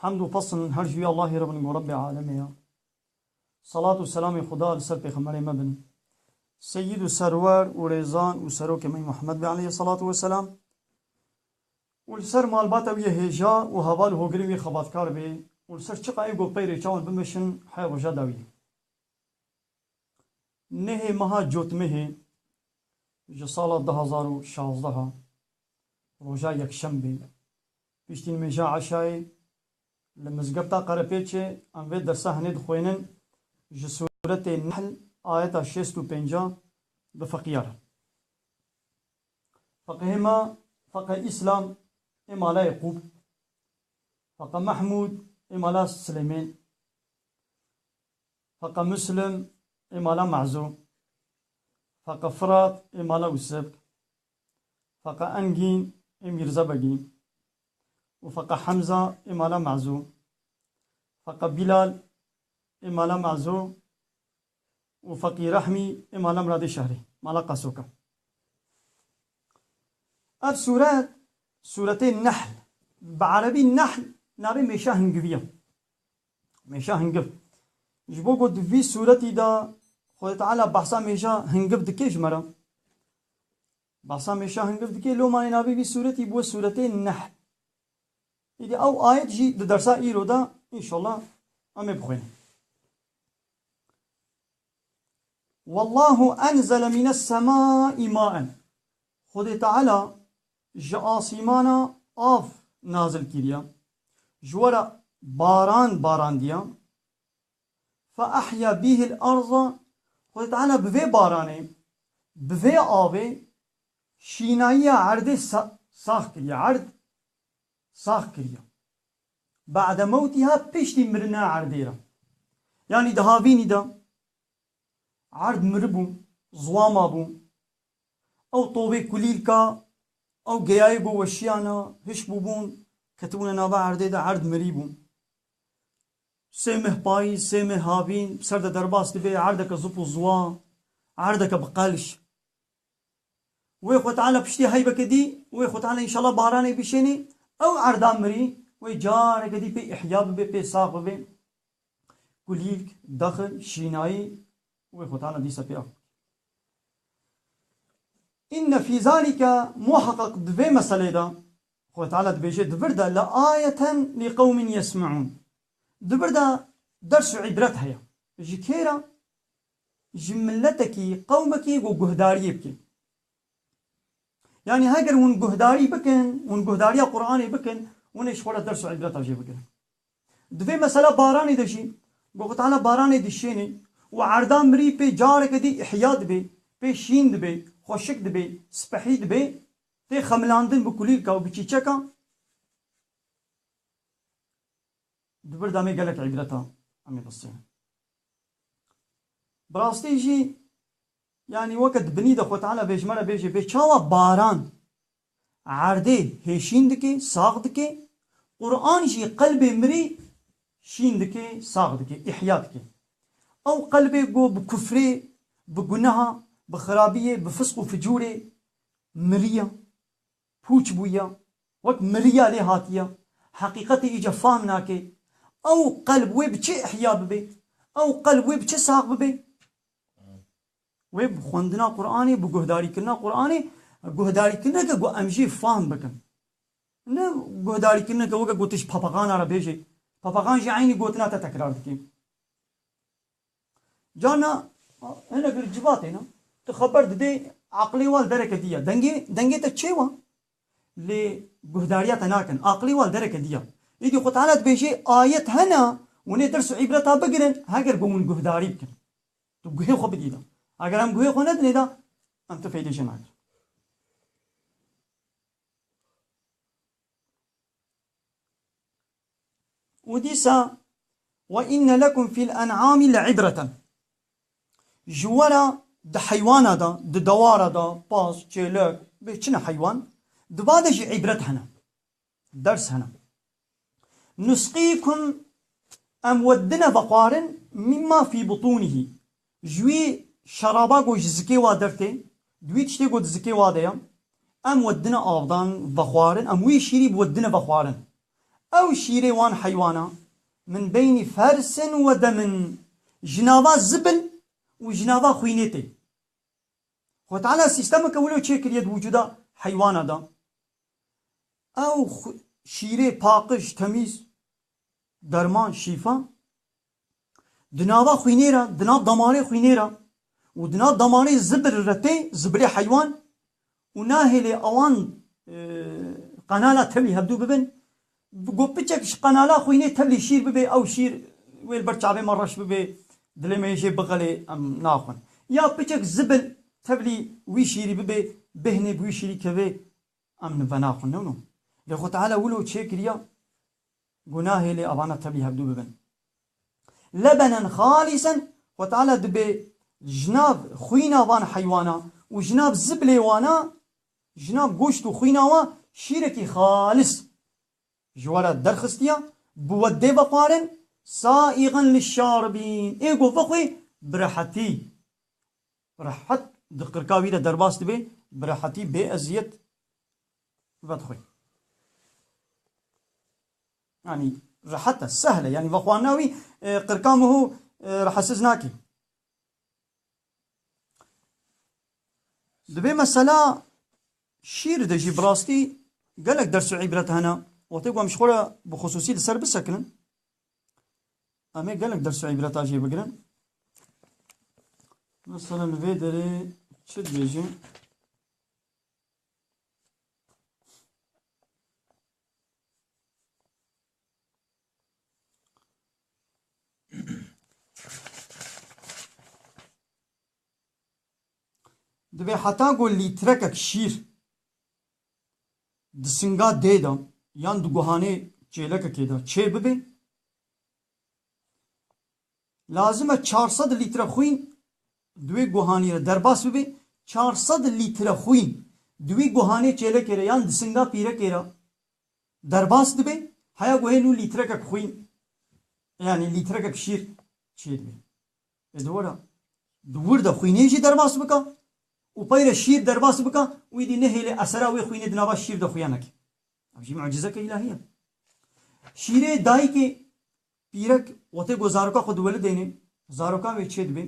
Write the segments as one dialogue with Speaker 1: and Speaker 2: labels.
Speaker 1: Hamd û pesn her ji wî Allahê re bin ku Rebbê Alemê ye. Selat û selamê Xuda li ser Pêxemberê me bin. Seyyîd û Serwer û Rêzan û Serokê me Muhemmed be aleyhî selatû we selam. Û li ser malbata wî yê hêja û heval û hogirê wî xebatkar be û li ser çiqa ê ku peyrê çawan bimeşin hey roja dawî. Nehê meha Cotmehê ji sala du hezar û şazdeh a, roja yekşembê, Piştî nimêja eşayê li Mizgefta Qerepêçê em vê dersa hinê dixwênin ji sûretê Nehl ayeta şêst û pêncî bi feqîya re. Feqîhê me Feqî Îslam ê mala Yekûb, Feqî Mehmûd ê mala Silêmên, Feqî Muslim ê mala Me'zo, Feqî Firat ê mala Wisebk, Faqa Engîn ê Mîrza Begîn û Faqa Hemza ê Mala Me'zû, Faqa Bîlal ê Mala Me'zû û Faqî Rehmî ê Mala Miradê Şehrî, Mala Qasoka. Ev sûret, Sûretê Nehl, bi erebî Nehl navê mêşa hingivî ye. Mêşa hingiv. Ji bo ku di vî sûretî de Xwedê Teala behsa mêşa hingiv dike ji me re. Behsa mêşa hingiv dike loma nê navê vî sûretî bûye sûretê Nehl. Îdî ew ayet jî di dersa îro de înşallah em ê bixwînin. Wallahu enzele mînes semâî maen. Xwedê Teala ji asîmana av nazil kiriya, ji we re baran barandiya, fe ehya bîhil arza, Xwedê Teala bi vê baranê, bi vê avê şînayiya erdê sax kiriya, erd sax kiriya. Ba'de mewtiha piştî mirina erdê re. Yanî di havînî de erd miribû, ziwama bû, Ew tovê kulîlka ew geyayê bo weşiyana hiş bûbûn, ketibûne nava erdê de erd mirîbûn. Sê meh payîz, sê meh havîn bi ser de derbas dibê erdeke zûp û zûa, erdeke bi qelş. Wê xwe teala piştî heybeke dî, wê xwe teala înşala baranê bişênê, ew erda mirî wê careke dî pê îhya bibê, pê sax bibê. Kulîlk, daxil, şînayî, û wê xwetana dîsa pê av bike. Înne fîzanî ke muheqeq di vê meseleyê de Xwedê Teala dibêje di vir de la ayeten lî qewmin yesmeûn di vir de ders û îbret heye. Ji kê re? Ji miletekî, qewmekî ku guhdariyê bike. Yanî heger hûn guhdarî bikin, hûn guhdariya Quranê bikin, hûn êş xwe re ders û îbret re jê bigirin. Di vê mesela baranê de jî goxutana baranê dişêne û erda mirî pê careke dî îhya dibe, pê şîn dibe, xweşik dibe, sipehî dibe, tê xemilandin bi kulîlka û bi çîçeka. Di vir de me gelek îbret a. Em ê bisênin. Bi rastî jî yanî weke di binî de xutana vê ji me re bêje bê çawa baran Erdê hêşîn dike, sax dike. Quran jî qelbê mirî şîn dike, sax dike, îhya dike. Ew qelbê ku bi kufrê, bi guneha, bi xirabiyê, bi fisq û ficûrê miriya, pûç bûya, wek miriya lê hatiya, heqîqetê îca fahm nake, ew qelb wê bi çi îhya bibe? Ew qelb wê bi çi sax bibe? Wê bi xwendina Quranê, bi guhdarîkirina Quranê, guhdarîkirineke ku em jê fahm bikin. Ne guhdarîkirineke weke ku tu ji papagana re bêjî, papagan jî eynî gotina te tekrar dike. Carna hinek li civatê ne, tu xeber didê, aqilê wan dereke dî ya. Dengê, dengê te çê wa, lê guhdariya te nakin. Aqilê wan dereke dî ya. Îdî Xwe Teala dibêje, ayet hene, wan ê ders û îbreta bigirin, heger bi wan guhdarî bikin. Tu guhê xwe bidî de. Eger em guhê xwe nedinê de, em tu fêdê jê nakin. Û dîsa we inne lekum fîl en'amî le îbreten. Ji were di heywana de, di dewara de, paz, çêlek, bê çi ne heywan, di ba de jî îbret hene. Ders hene. Nusqîkum em we dine ve xwarin mîmma fî butûnihî, ji wî şeraba ku ji zikê wa dertê, di wî tiştê ku di zikê wa de ye, em we dine avdan ve xwarin, em wî şîrî bi we dine ve xwarin. Ew şîrê wan heywana min beynî fersin we de min ji nava zibil û ji nava xwînê tê. Xwe Teala sîstemeke wilo çêkiriye di wicûda heywana de. Ew şîrê paqij, temîz, derman, şîfa di nava xwînê re, di nav damarê xwînê re û di nav damarê zibir re tê, zibirê heywan û nahêlê ewan qenala tevlî hevdû bibin. Got piçek ji qenala xwînê tevlî şîr bibê ew şîr wê li ber çavê me reş bibê dilê me yê jê bixelê em naxwin. Ya piçek zibil tevlî wî şîrî bibê bêhnê bi wî şîrî kevê em li venaxwin new new. Lê xwe teala wilo çê kiriya gunahê lê avana tevlî hevdû bibin. Lebenen xalîsen xwe teala dibê ji nav xwîna van heywana û ji nav zibilê wana Jina goşt û xwîna we şîrekî xalis ji we re derxistiya, bi we dê veparin, saîxin li şar bîn ê govê xwe bi rehetî rehet di qirka wî de derbas dibe, bi rehetî bê eziyet vedixwe. Yanî rehet e, sehl e, yanî vexwarina wî qirka miho rehesiz nake. Divê mesela şîr de jî bi rastî gelek ders û îbret hene. Wextê ku em ji xwe re bi xisûsî li ser bisekinin em ê gelek ders û îbreta jê bigirin. Mesela li vê derê çi dibêjin? Divê heta ku lîtrekek şîr di singa dê de yan di guhanê çêlekekê de çê bibe, lazim e çar sed lître xwîn di wê guhanî de derbas bibe, çar sed lître xwîn di wî guhanê çêlekê de yan di singa pîrekê de Derbas dibe, heya guhê nû lîtrekek xwîn yanî lîtrekek şîr çêdibe. Ê dewera di wir de xwînê jî derbas bika û peyre şîr derbas bika û îdî nehêlê esera wê xwînê di nava şîr de xuya neke. Ev jî mucîzeke îlahî ye. Şîrê dayikê pîrek wextê ku zaroka xwe diwelidêne, zaroka wê çêdibe.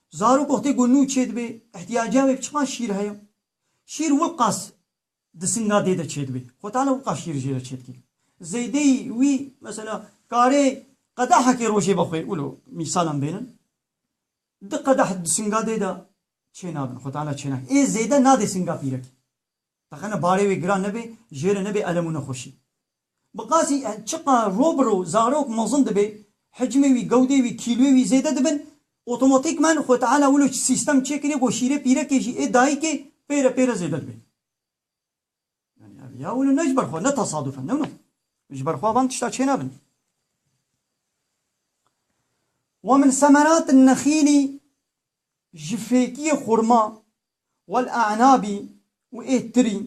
Speaker 1: Zarok wextê ku nû çêdibe, îhtîyaca wê bi çiqas şîr heye? Şîr wilqas Di singa dê de çêdibê. Xwe tane wika şîr jê re çêdikê. Zeydeyî wî mesela karê qedehekê rojê be xwe wilo mîsalan bênin. Di qedeh di singa dê de çênabin. Xwe tane çênake. Ê zêde nadê singa pîrekê. Teqene barê wê giran nebe, jê re nebe elem û nexweşî. Bi qasî çiqa ro bi ro zarok mezin dibe, hicmê wî, gewdê wî, kîloyê wî zêde dibin, otomatîkman xwe Teala wilo çi sîstem çêkiriye ku şîrê pîrekê jî ê dayikê pêre pêre zêde dibe. Yanî ev ya wilo ne ji ber xwe, ne tesaduf e. Newna. Ji ber xwe van tişta çênabin. Wa min semerat nexîlî ji fêkiyê xurma wal-e'nabî û ê tirî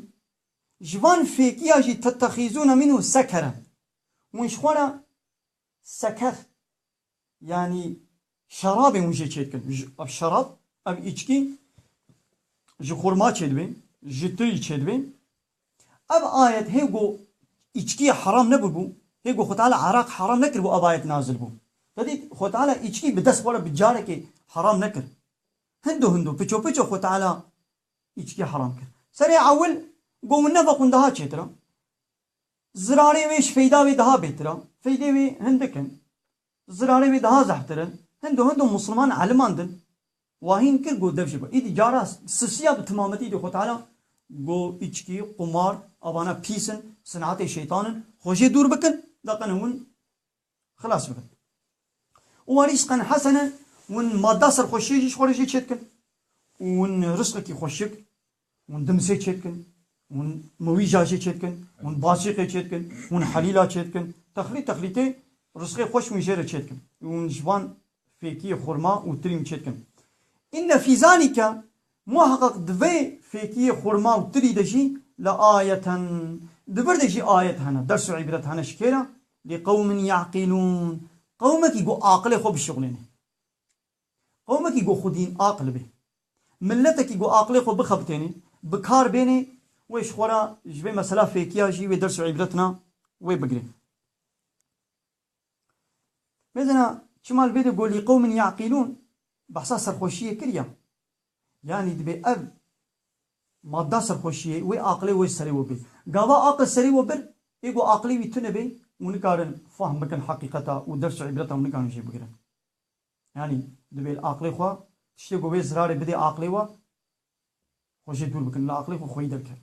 Speaker 1: Ji van fêkiya jî tetexîzûna mîn û seker in. Winşxwana seker yanî şerabên wijê çê dikin. Ev şerab, ev îçkî ji xurma çê dibê, ji tirî çê dibê. Ev ayet hê ku îçkî heram nebûbû, hê ku Xwe Teala araq heram nekiribû ev ayet nazil bû. Te dît Xwe Teala îçkî bi dest xwe re bi carekê heram nekir. Hindo hindo, piço piço Xwe Teala Îçikê heram kir. Serê ewil got û neva xwin daha çêtir a. Zirarê wê ji feyda wê daha bêtir a. Feydê wê hindik in. Zirarê wê daha zehftir in. Hindo hindo musilman eliman din. Wahîn kir got dev jê be. Îdî cara sisiya bi timametî îdî xwe tala got îçikî, qumar, avana pîs in, sinatê şeytan in. Xwe jê dûr bikin. Deqin hewin xilas bibin. Û wa rîsqen hesen e, hûn madda serxweşiyê jî ji xwe re jê çêdikin û hûn risqekî xweşik, hûn dimsê çêdikin, hûn miwîja jê çêdikin, hûn basîqê çêdikin, hûn helîla çêdikin, texlît texlîtê risqê xweş hûn jê re çêdikin û hûn ji van fêkiyê xurma û tirîm çêdikin. Înne fîzanî ke Muheqeq di vê fêkiyê xurma û tilî de jî la ayeten, di vir de jî ayet hene, ders û îbret hene ji kê re? Li qewmin ye'qîlûn, qewmekî ku aqilê xwe bişuxlêne. Qewmekî ku xwedîn aqil bê. Miletekî ku aqilê xwe bixebitêne, bi kar bêne, wê ji xwe re ji vê mesela fêkiya jî wê ders û îbret na wê bigire. Mezena çima li vê de golî qewmên Yaqîlûn behsa serxweşiyê kiriya? Yanî dibê ev madda serxweşiyê wê aqilê wê serê we bê. Gava aqil serê we bir ê ku aqilê wî tune bê û nikarin fahm bikin heqîqeta û ders û îbreta û nikarin jê bigirin. Yanî dibê li aqilê xwe tiştê ku wê zirarê bidê aqilê we xwe jê dûr bikin. Li aqilê xwe xweyî derkerin.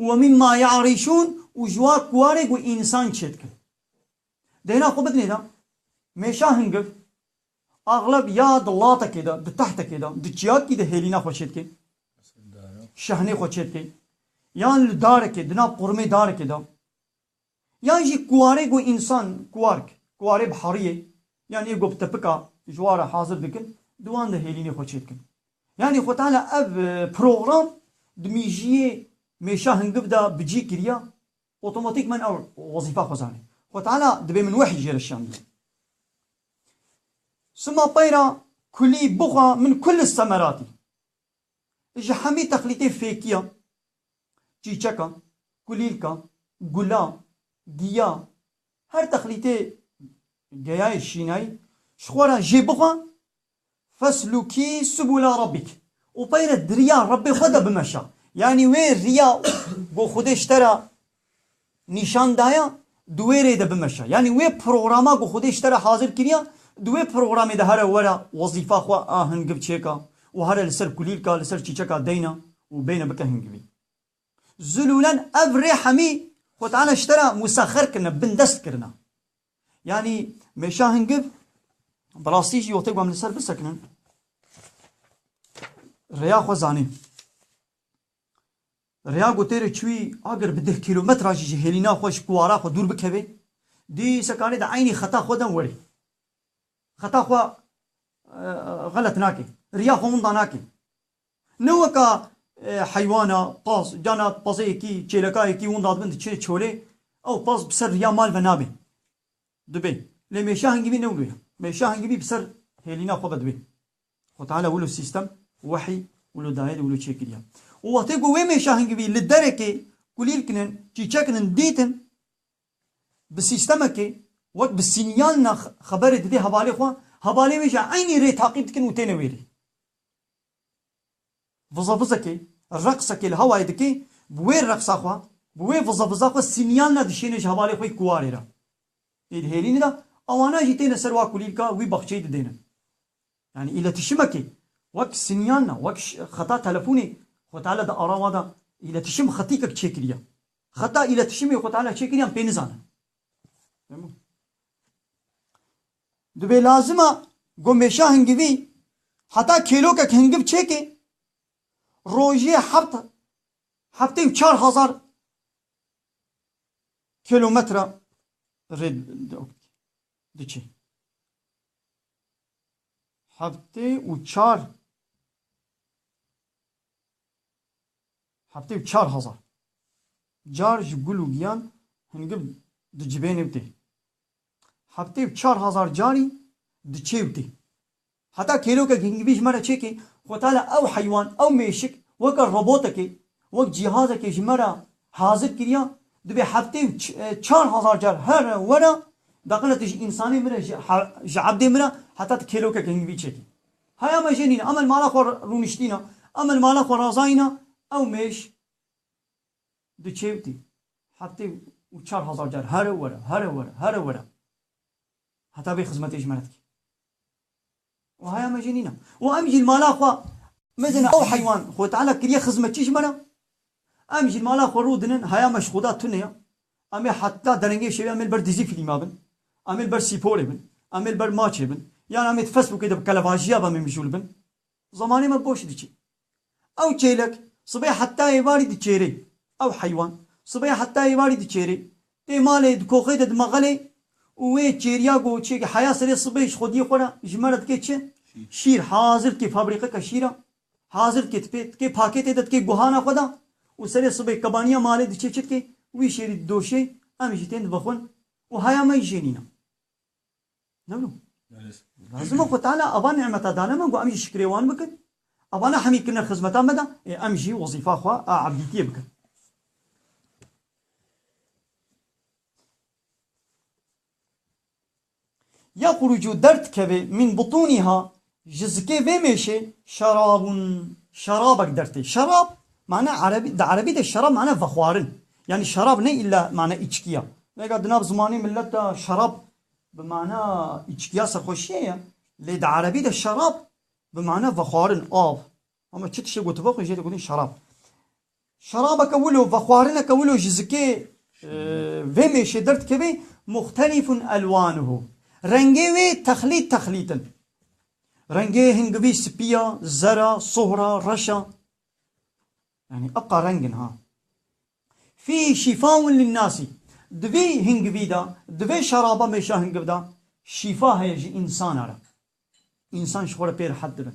Speaker 1: û wemînma ya rîşûn û jiwa kuwarê ku însan çêdikir. Di hêna xwe bidinê de, mêşa hingiv axleb ya di latekê de, di tehtekê de, di çiyakî de hêlîna xwe çêdike, şehnê xwe çêdike, yan li darekê, di nav qorumê darekê de, Yan jî kuwarê ku însan, kuwark, kuwarê bi hariyê yan yê ku bi tipika ji wa re hazir dikin di wan de hêlînê xwe çêdikin. Yanî xwe tala ev program di mîjiyê mêşa hingiv de bi cî kiriya, otomatîkman ew wezîfa xwe zanê. Xwe tala dibê min wehî jê re şan bidin. Sima peyra kulî bixwe min kul semeratî. Ji hemî texlîtên fêkiyan Çîçekan, kulîlkan, gulan, giya, her texlîtê geyayê şînayî ji xwe re jê bixwe, feslûkî subûl a Rabbîk û peyre di riya Rabbê xwe de bimeşa. Yanî wê riya ku Xwedê ji te re nîşan daya di wê rê de bimeşe. Yanî wê programa ku Xwedê ji te re hazir kiriya, di wê programê de here were wezîfa xwe a hingiv çêka û here li ser kulîlka, li ser çîçeka deyna û bêne bike hingivî. Zilûlen ev rê hemî Xwe Teala ji te re musexer kirine, bindest kirine. Yanî mêşa hingiv bi rastî jî wextê ku em li ser bisekinin rêya xwe zanîn. Rêya ku têrê çûyî agir bi deh kîlometran jî ji hêlîna xwe, ji kuwara xwe dûr bikevê, dî sekanî di eynî xeta xwe de werî. Xeta xwe xelet nakê, rîya xwe winda nakê. Ne weka heywana paz, carna pazeyekî, çêlekayekî winda dibin diçin çolê, ew paz bi ser rîya mal ve nabê, dibê. Lê mêşa hingîvî ne wilo ye. Mêşa hingîvî bi ser hêlîna xwe ve dibê. Xwe Teala wilo sîstem, wehî, wilo daye de wilo çêkiriya. Û wextê ku wê mêşa hingivî li derekê kulîl kinin, çîçe kinin, dîtin bi sîstemekê wek bi sînyal na xeberê didê hevalê xwe, hevalê wê jî eynî rê taqîb dikin û têne wê rê. Vizevizekê, reqsekê li hewayê dike, bi wê reqsa xwe, bi wê vizeviza xwe sînyal na dişêne ji hevalê xwe yê kuwarê re. Ê di hêrînê de ewana jî têne ser wa kulîlka wî bexçeyî didêne. Yanî îletîşimekê wek sinyan na, wek xeta telefonê Xwê Teala di ara wa de îletîşim xetîkek çêkiriye. Xeta îletîşimê Xwê Teala çêkiriyan pê nizane. Divê lazima ku mêşa hingivî heta kêlokek hingiv çêke rojê heft heftê û çar hezar kêlometre rê diçe. heftê û çar heftê û çar hezar car ji gul û giyan hingib dicibêne û tê. Heftê û çar hezar carî diçê û tê. Heta kêlokek hingivî ji me re çêkê xwe tale ew heywan, ew mêşik weke robotekê Wek cîhazekê ji me re hazir kiriya, dibê heftê û çar hezar car here were, beqile tu ji însanê min re, ji ebdê min re heta tu kêlokeke hingvî çekî. Haya me jenîn e, em li mala xwe rûniştîn e, em li mala xwe razayîn e, ew mêş di çêwtî heftê û çar hezar car here were, here were, here were heta vê xizmetê ji me re dike. Wiha ya me jî nîne. Û em jî li mala xwe mezin e ew heywan Xwedê Teala kiriye xizmetçî ji me re. Em jî li mala xwe rû dinin heya me ji Xweda tune ye. Em ê heta derengê şevê em ê li ber dizî fîlma bin, em ê li ber sîporê bin, em ê li ber maçê bin yan em ê di Facebookê de bi kelebajiya ve mêmijûl bin. Zemanê me boş diçe. Ew çêlek sibê heta êvarî diçêrê. Ew heywan sibê heta êvarî diçêrê. Tê malê di koxê de dimeqelê û wê çêriya ku çêkê heya serê sibê ji xwediyê xwe re ji me re dikê çi? Şîr. Hazir dikê fabrîqeke şîra. Hazir dikê tipê dikê pakêtê de dikê guhana xwe de û serê sibê kebaniya malê diçê çi dikê? Wî şêrî didoşê, em jî tên dibixwin û heya me jî jênîne. No no. Lazim e xwe Teala ava nimeta dane me ku em jî şikrê wan bikin. Ava ne hemî kirine xizmeta me de ê em jî wezîfa xwe a ebdîtiyê bikin. Yexrucu derdikeve min butuniha Ji zikê vê mêşê şerabun şerabek dertê. Şerab mane erebî di erebî de şerab mane vexwarin. Yanî şerab ne îlla mane îçkî ya. Nega di nav zimanê milet de şerab bi mana îçkîya serxweşîyê ye lê di erebî de şerab bi mana vexwarin, av, Hema çi tiştê gotiba xwe jê de gotin şerab. Şerabeke wilo, vexwarineke wilo ji zikê vê mêşê derdikeve muxtelîfun elwanuhu. Rengê wê texlît texlît in. Rengê hingivî spî ya, zer a, sohr a, reş a. Yanî eqa reng in ha. Fîhî şîfaun linnasî. Di vî hingivî de, di vê şeraba mêşa hingiv de şîfa heye ji însanan re. Însan ji xwe re pê rehet dibin.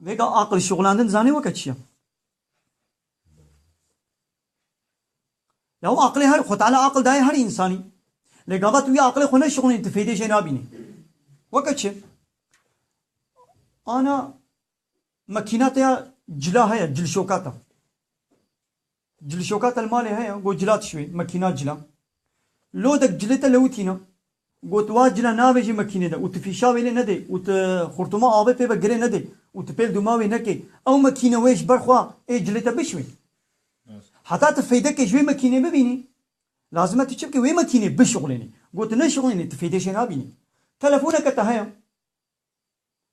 Speaker 1: Vêga aqil şixulandin zanî weke çi ye? Yaw aqilê her Xwe Teala aqil daye her însanî. Lê gava tu wî aqilê xwe neşixulînî tu feydê jê nabînî. Weke çi? Ana makîna te ya cila heye, cilşokata. Cilişoka te li malê heye? Got cila tişwê, makîna cila. Lodek cilê te lewitîn e. Got wa cila navêjê makînê de û tu fîşa wê lê nedê û tu xurtuma avê pê ve girê nedê û tu pêl dûma wê nekê, ew makîne wê ji ber xwe ê cilê te bişwê. Heta tu feydekê ji wê makînê bibînî, lazim e tu çi bikî? Wê makînê bişuxlênî. Got tu neşuxlênî, tu feydê jê nabînî. Telefoneke te heye?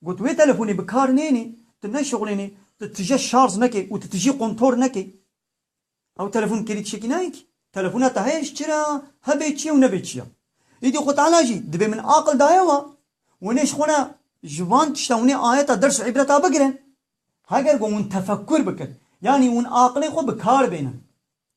Speaker 1: Got, wê telefonê bi kar nênê, tu neşixulênê, tu tije şarj neke û tu tijî quntor neke. Ew telefon kêlî tişekî nayê kî. Telefona te heye ji çi re a, hebe çi ye û nebe çi ye. Îdî Xwe Teala jî divê min aqil daye wa, Hûnê ji xwe re ji van tiştan hûnê ayeta ders û îbreta bigirin. Heger ku hûn tefekkûr bikin, yanî hûn aqilê xwe bi kar bênin.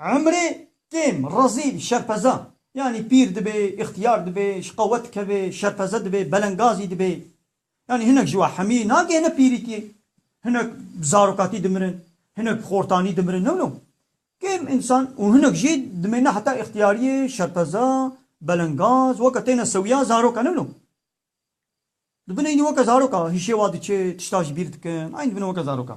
Speaker 1: Emrê kêm, rezîl, şerpeza, yanî pîr dibê, îxtiyar dibê, ji qewet dikeve, şerpeze dibê, belengazî dibê. Yanî hinek ji we hemî nagihne pîrîtiyê. Hinek bi zarokatî dimirin, hinek bi xortanî dimirin. Newno kêm însan û hinek jî dimêne heta îxtiyariyê, şerpeza, belengaz, weke têne sewiya zarok e. Newno dibin eynî weke zarok a, hişê wa diçe, tişta ji bîr dikin, eynî dibin weke zarok a.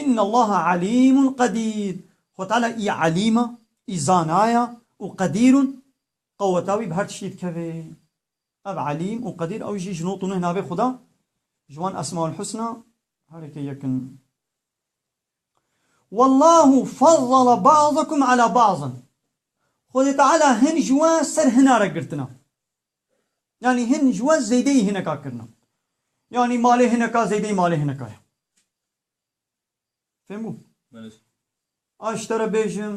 Speaker 1: Innallaha alîmun qedîr, Xweda Teala î Alîm e, î Zana ye û Qedîr û qeweta wî bi her tiştî dikeve. Ev Alîm û Qedîr ew jî ji not û neh navê Xweda ji wan Esmaulhusna herêkê yek in. Wallahu faddala ba'dakum ala ba'din, Xwedê Teala hin ji we ser hina re girtina. Yanî hin ji we zêdeyî hineka kirina. Yanî malê hineka zêdeyî malê hineka ye. Fêhm bû? A ji te re bêjim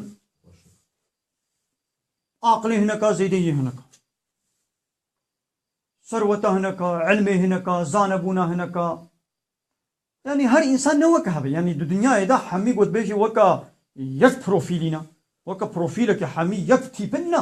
Speaker 1: aqilê hineka zêdeyî hineka. Serweta hineka, ilmê hineka, zanebûna hineka. Yanî her însan ne weke hev e. Yanî di dinyayê de hemî gotbêjê weke yek profîlî ne. Weke profîleke hemî yek tîpin ne.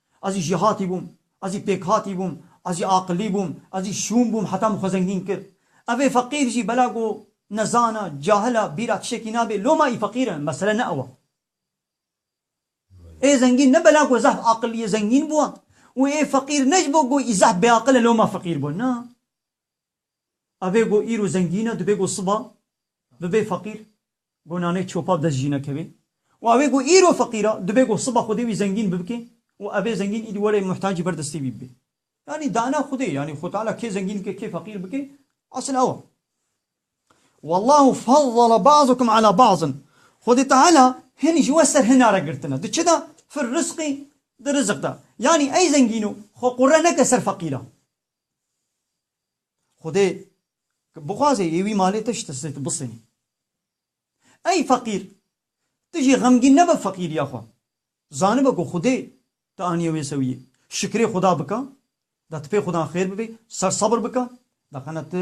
Speaker 1: Ez jî jêhatî bûm, ez jî pêkhatî bûm, ez jî aqilî bûm, ez jî şûn bûm heta min xwe zengîn kir. Ev ê feqîr jî bela ku nezan e, cahil e, bîra tiştekî nabe, loma ê feqîr e, mesele ne ew e. Ê zengîn ne bela ku zehf aqilî ye zengîn bû û ê feqîr ne ji bo ku ê zehf bêaqil e loma feqîr bû, na. Evê go îro zengîn e, dibê go siba bibê feqîr, go nanê çopa bi dest jî nekevê û evê go îro feqîr e, dibê go siba xwedê wî zengîn bibike û evê zengîn îdî were muhtacî ber destê wî bibe. Yanî dane xwedê, yanî Xwe Teala kê zengîn bike, kê feqîr bike, esil ew e. Wallahu faddala ba'dakum ala ba'din, Xwedê Teala hin ji we ser hina re girtine. Di çi de? Fir risqî, di rizik de. Yanî ey zengîno xwe qure neke ser feqîran. Xwedê bixwaze yê wî malê te ji te sê tu bisenî. Ey feqîr! Tu jî xemgîn nebe feqîriya xwe. Zanibe ku Xwedê te aniye wê sewiyê. Şikrê Xweda bike, da tu pê Xwedan xêr bibê, ser sebir bike, da qene tu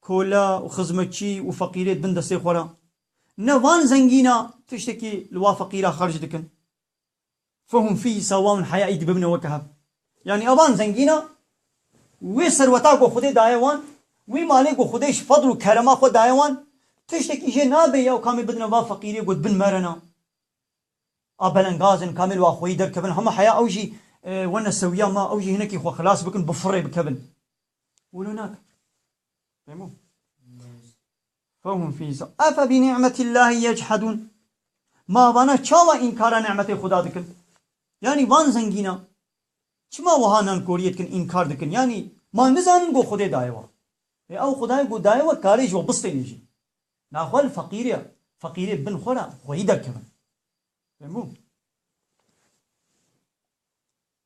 Speaker 1: Kola û xizmetçî û feqîrê dibin destê xwe re. Ne van zengîna tiştekî li wa feqîra xerc dikin. Fehûm fî sawawin heyayî dibibne weke hev. Yanî evan zengîna wê serweta ku Xwedê daye wan, wê malê ku Xwedê ji fedl û kerema xwe daye wan, tiştekî jê nabe ya û kamê bidine va feqîrê ku dibin merena. A belengaz in, kamê li wa xweyî derkevin, hema heya ew jî wene sewiya me, ew jî hinekî xwe xilas bikin, bi firê bikevin. Wilo nakin. Fehmo? Fehum fîza. Efe bi ni'metillâhi yechhedûn. Ma vana çawa înkara ni'metê Xuda dikin? Yanî van zengînan çima wiha nankoriyê dikin, înkar dikin? Yanî ma nizanin ku Xwedê daye wan. Lê ew Xwedayê ku daye wan karê ji wan bistêne jî. Na xwe li feqîrê feqîrê bin xwe re xweyî derkevin. Fehmo?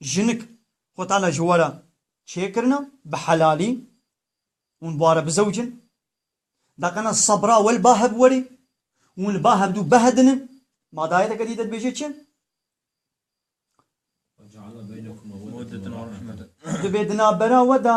Speaker 1: jinik xwe tane ji we re çêkirine bi helalî, hûn bi we re bizewicin, deqena sebra we li ba hev werî, hûn li ba hev dû behedinin, ma dayeteke dî de dibêje çi? Di bê di navbera we de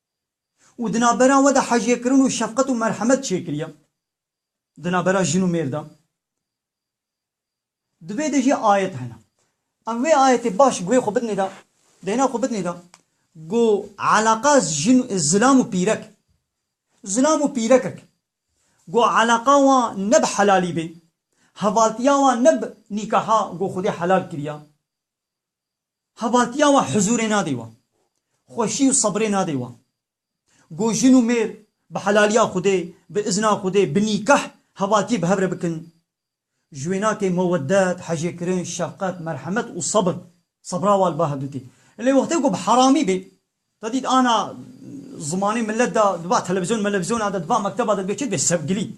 Speaker 1: û di navbera we de hecêkirin û şefqet û merhemet çêkiriye di navbera jin û mêr de. Di vê de jî ayet hene. Em vê ayetê baş guhê xwe bidinê de, dêna xwe bidinê de ku eleqa jin zilam û pîrek, zilam û pîrekek ku eleqa wan ne bi helalî bê, hevaltiya wan ne bi nîkaha ku Xwedê helal kiriye, Hevatiya wan huzûrê nadê wan. Xweşî û sebrê nadê wan. Ku jin û mêr bi helaliya Xwedê, bi izna Xwedê, bi nîkah hevatiyê bi hev re bikin. Ji wênakê meweddet, hejêkirin, şefqet, merhemet û sebr, sebra wa li ba hevdû tê. Lê wextê ku bi heramî bê, te dît ana zimanê milet de diba televizyon melevizyona de, diba mekteba de dibe çi dibe? Sevgilî.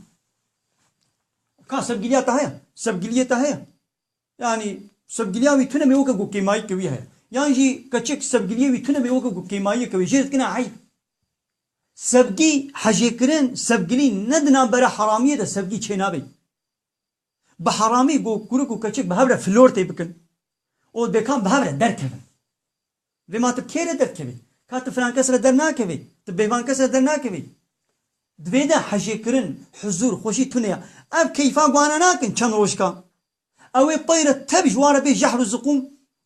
Speaker 1: Ka sevgiliya te heye? Sevgiliyê te heye? Yanî sevgiliya wî tune mê weke ku kêmayîke wî heye. Yan jî keçik sevgiliyê wî tune mê weke ku kêmayiyeke wî jê dikine eyb. Sevgî hejêkirin, sevgilî ne di navbera heramiyê de sevgî çênabê. Bi heramî ku kurik û keçik bi hev re flortê bikin û dêkan bi hev re derkevin. Vê ma tu bi kê re derkevî? Ka tu filan kes re dernakevî, tu bêvan kes re dernakevî. Di vê de hejêkirin, huzûr, xweşî tune ye. Ev keyfa guhana nakin çend rojka. Ew ê pey re tev ji wa re bê jehr û ziqûm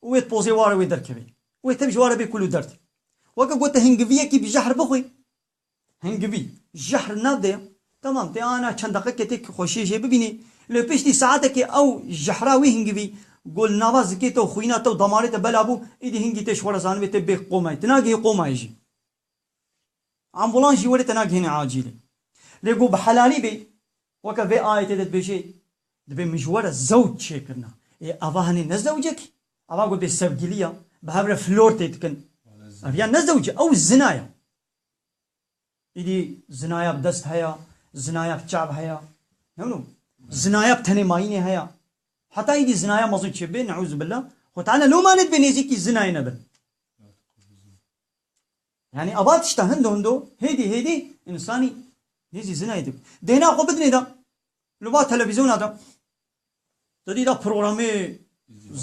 Speaker 1: û wê di pozê wa re wê derkevî. Wê tev ji wa re bê kul û derd. Weke ku tu hingiviyekî bi jehr bixwî, Hingivî, jehr nade, temam tê ana çend deqeke tê ku xweşiyê jê bibînî, lê piştî saetekê ew jehra wî hingivî ku li nava zikê te û xwîna te û damarê te bela bû, îdî hingî tê ji xwe re zanibê tê bê qomayî, tu nagihî qomayê jî. Ambûlans jî werê te nagihêne acîlê. Lê ku bi helalî bê, weke vê ayetê de dibêje, Dibê min ji we re zewc çêkirina. Ê eva hene ne zewcek e? Eva ku dê sevgilî ya, bi hev re flortê dikin. Ev ya ne zewc e, ew zina ye. Îdî zinayak dest heya, zinayak çav heya. Hemû. Zinayak tenê mayînê heya. Heta îdî zinaya mezin çê bê, neûzubilla, xwe teala loma nedibê nêzîkî zinayê nebin. Yanî ava tişta hindo hindo, hêdî hêdî însanî nêzî zinayê dibin. Dêna xwe bidinê de, li va televîzyona de, Di dî de programê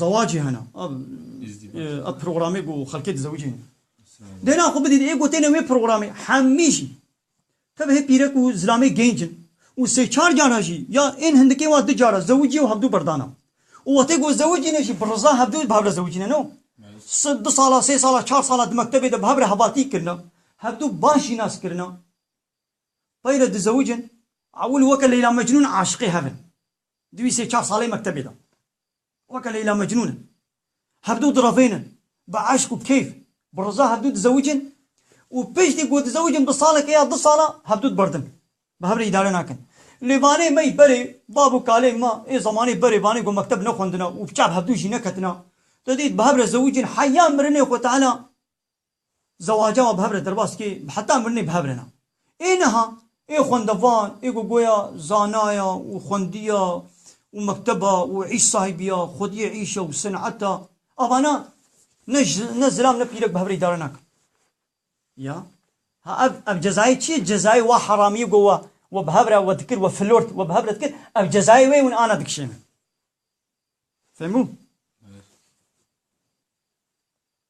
Speaker 1: zewacê hene. Ev programê ku xelkê dizewicê ne. Dêna xwe bidît ê ku têne wê programê hemî jî tev hê pîrek û zilamê gênc in û sê çar cara jî ya ên hindikê wa du cara zewicî û hevdu berdana û wextê ku zewicîne jî bi riza hevdu bi hev re zewicîne no. Sed du sala sê sala çar sala di mektebê de bi hev re hevatî kirine. Hevdu baş jî nas kirine. Tayre du zewij in, ewil weke Leyla Mecnûn aşiqê hev in. Duî sê çar salê mektebê de weke Leyla Mecnûn in. Hevdu direvênin bi eşq û keyf, bi riza hevdu dizewij in û piştî ku dizewij in bi saleke ya du sala hevdu diberdin. Bi hev re îdare nakin. Lê vanê mey berê bab û kalên me ê zemanê berê vanê ku mekteb nexwendine û bi çav hevdu jî neketine. Tu dît bi hev re zewij in heya mirinê xwe tahila Zewaca we bi hev re derbas dike, bi heta mirinê bi hev re ne. Ê niha, ê xwendevan, ê ku goya zanaya û xwendiya û mekteba û îş sahibiya, xwediyê îşa û sen'eta, avana ne ne zilam ne pîrek bi hev re îdare nakin. Ya. Ha ev ev cezayê çi ye? Cezayê wa heramiyê ku we we bi hev re we dikir, we flört we bi hev re dikir, ev cezayê wê ye hûn ana dikişênin. Fêhm bû?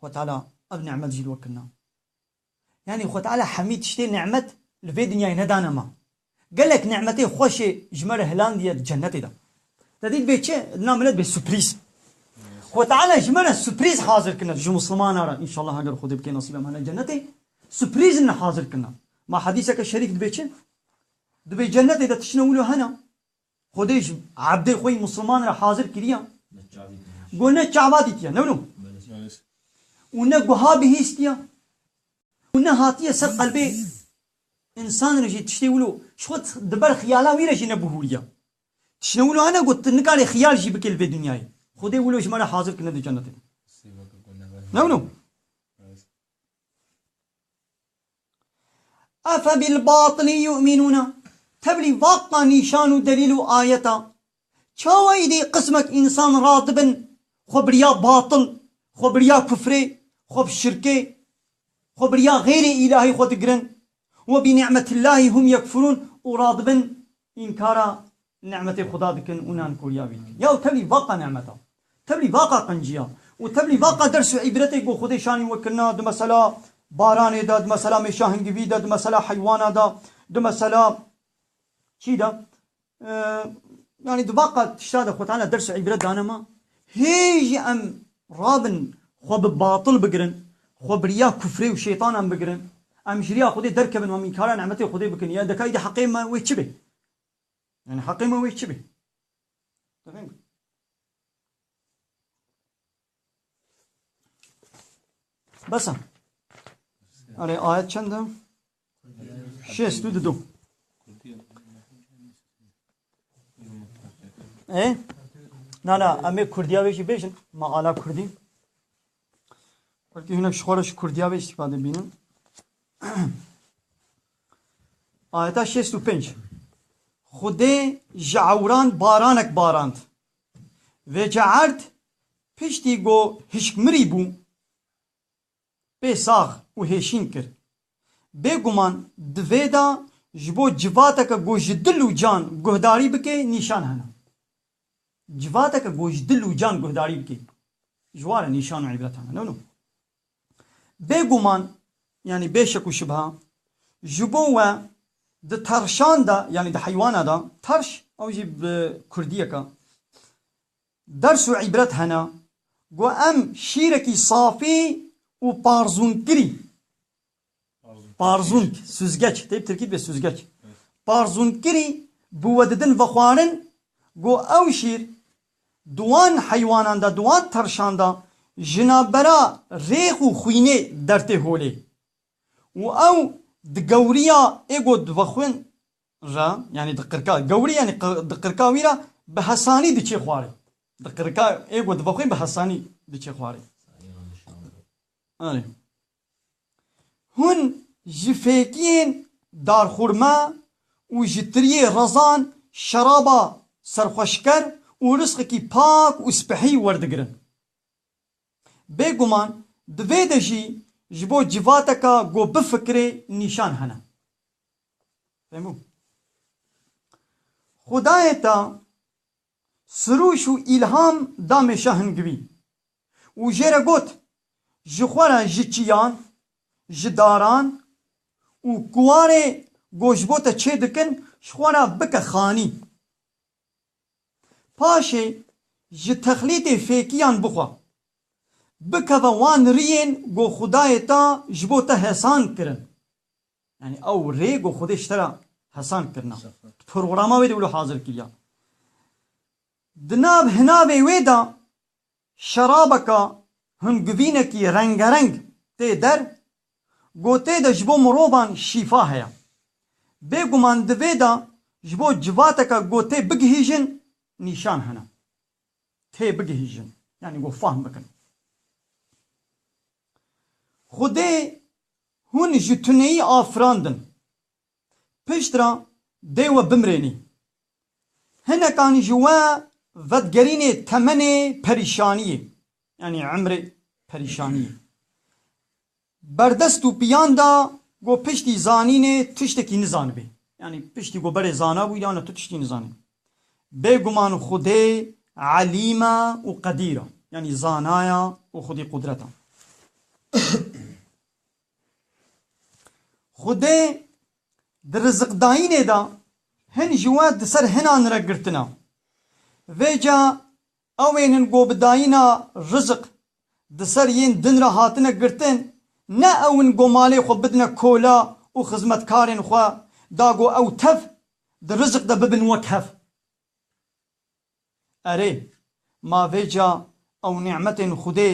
Speaker 1: Xwe Teala ev nimet jî li we kirina. Yanî Xwe Teala hemî tiştê nimet li vê dinyayê nedane me. Gelek nimetê xweşê ji me re hilandiye di cenetê de. Te dît bê çi? Di nav milet bê suprîz. Xwe Teala ji me re suprîz hazir kirine, ji Muslimanan re înşallah heger Xwedê bike nesîb em hene cenetê, suprîz li hazir kirine. Ma hedîseke şerîf dibê çi? Dibê cenetê de tiştine wilo hene. Xwedê ji ebdê xwe yî Musliman re hazir kiriya ku ne çava dîtiya ne wilo û ne guha bihîstiya û ne hatiye ser qelbê însan re jî tiştê wilo ji xwe di ber xiyala wî re jî nebihûriya. Tiştê wilo hene ku tu nikarî xiyal jî bikî li vê dinyayê. Xwedê wilo ji me re hazir kirine di cenetê de. Ne wilo? Efebilbatili yu'minûne, tevlî vaqa nîşan û delîl û ayet a. Çawa îdî qismek însan radibin xwe biriya batil, xwe biriya kufrê, xwe bi şirkê, xwe biriya xeyrê îlahî xwe digirin, Webinî'metillahî hum yekfurûn û radibin Înkara ni'metê Xuda dikin û nan koriya wî dikin. Yaw tevlî vaqa ni'meta. Tevlî vaqa qinciya. Û tevlî vaqa ders û îbretê ku Xwedê şanî we kirina di mesela baranê de, di mesela mêşa hingivî de, di mesela heywana de, di mesela çî de. Yanî di vaqa tişta de Xwe Teala ders û îbret dane ma. Hê jî em Rabin xwe bi batil bigirin, xwe bi riya kufrê û şeytanan bigirin, em ji riya Xwedê derkevin û em înkara nimetên Xwedê bikin, ya deka îdî heqê me wê çi bê? Yanî heqê me wê çi bê? Bes e. Erê ayet çend e? Şêst û dudu. E? Na na, em ê Kurdiya wê jî bêjin. Ma ala Kurdî. Kurdî hinek ji xwe re ji Kurdiya wê îstîfade bînin. Ayeta şêst û pênc. Xwedê ji ewran baranek barand. Vê caerd piştî ku hişkmirî bû, pê sax û hêşîn kir. Bê guman di vê de ji bo civateke ku ji dil û can guhdarî bike nîşan hene. Civateke ku ji dil û can guhdarî bike ji war e nîşan û îbret hene. Nû bê guman yanî bê şek û şibha ji bo we di tarşan de yanî di heywana de tarş ew jî bi kurdiyeke Ders û îbret hene ku em şîrekî safî û parzûnkirî, parzûnk, sûzgeç, tê bi tirkî dibê sûzgeç, parzûnkirî bi we didin vexwarin ku ew şîr di wan heywanan de, di wan terşan de jinabera rêx û xwînê dertê holê û ew di gewriya ê ku divexwin re yanî di qirka gewrî yanî di qirka wî re bi hesanî diçê xwarê. Di qirka ê ku dive xwe bi hesanî diçê xwarê. Arê. Hûn ji fêkiyên darxurme û ji tiriyê rezan şeraba serxweşker û risqekî pak û spehî werdigirin. Bêguman di vê de jî ji bo civateka ku bifikirê nîşan hene. Femu. Xudayê te sirûş û îlham da mêşa hingivî û jê re got, Ji xwe re ji çiyan, ji daran û kuwarê ku ji bo te çê dikin ji xwe re bike xanî. Paşê ji texlîtê fêkiyan bixwe. Bikeve wan riyên ku Xudayê te ji bo te hesand kirin. Yanî ew rê ku Xwedê ji te re hesand kirina, di programa wê de wilo hazir kiriya. Di nav hinavê wê de şerabeke hingivînekî rengereng tê der, gotê de ji bo mirovan şîfa heye. Bêguman di vê de ji bo civateke gotê bigihîjin nîşan hene. tê bigihîjin yanî ku fahm bikin. Xwedê hûn ji tuneyî afirandin. Pişt re dê we bimrênî. Hinekan ji we vedigerînê temenê perîşaniyê yanî emrê perîşaniyê. Berdest û piyan da ku piştî zanînê tiştekî nizanibê. Yanî piştî ku berê zanabû ya ne tu tiştî nizanî. Bêguman Xwedê Elîm e û Qedîr e. Yanî zana ye û xwedî qudret e. Xwedê di riziqdayînê de hin ji we di ser hinan re girtin e. Vê ca Ew ên in ku bi dayîna rizik di ser yên din re hatine girtin, ne ew in ku malê xwe bidine kola û xizmetkarên xwe da ku ew tev di rizik de bibin wek hev. Erê, ma vê ca ew nîmetên Xwedê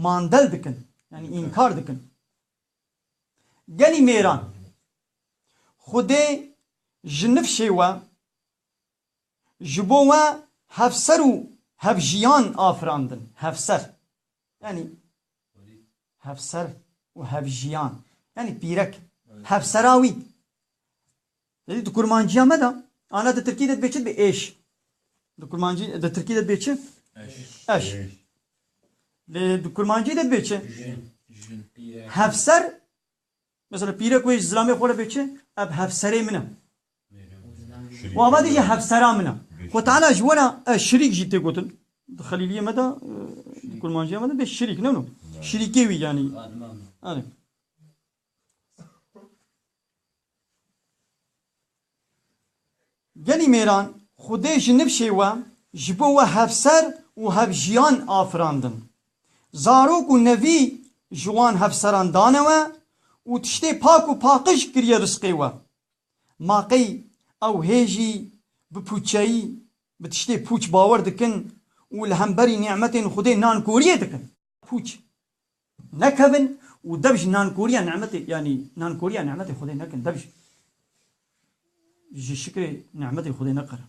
Speaker 1: mandel dikin, yanî înkar dikin. Gelî mêran, Xwedê ji nifşê we Ji bo we hevser û hevjiyan afirandin. Hevser yanî hevser û hevjiyan yanî pîrek, hevsera wî. Êdî di kurmanciya me de ana di tirkî de dibê çi dibê? Êş. Di kurmancî di tirkî de dibê çi? Eş. Lê di kurmancî de dibê çi? Hevser. Mesela pîrek wê ji zilamê xwe re bê çi? Ev hevserê min e. Û ava dijî hevsera min e. Xwe teala ji were e şirîk jî tê gotin. Di xelîliyê me de, di kurmanciya me de bê şirîk ne no. Şirîkê wî yanî. Erê. Gelî mêran Xwedê ji nifşê we ji bo we hevser û hevjiyan afirandin. Zarok û nevî ji wan hevseran dane we û tiştê pak û paqij kiriye risqê we. Ma qey ew hê jî bi pûçeyî, bi tiştê pûç bawer dikin û li hemberî nî'metên Xwedê nankoriyê dikin? Pûç nekevin û dev ji nankoriya nî'metê, yanî nankoriya nî'metê Xwedê nekin, dev ji şikrê nî'metê Xwedê neqerin.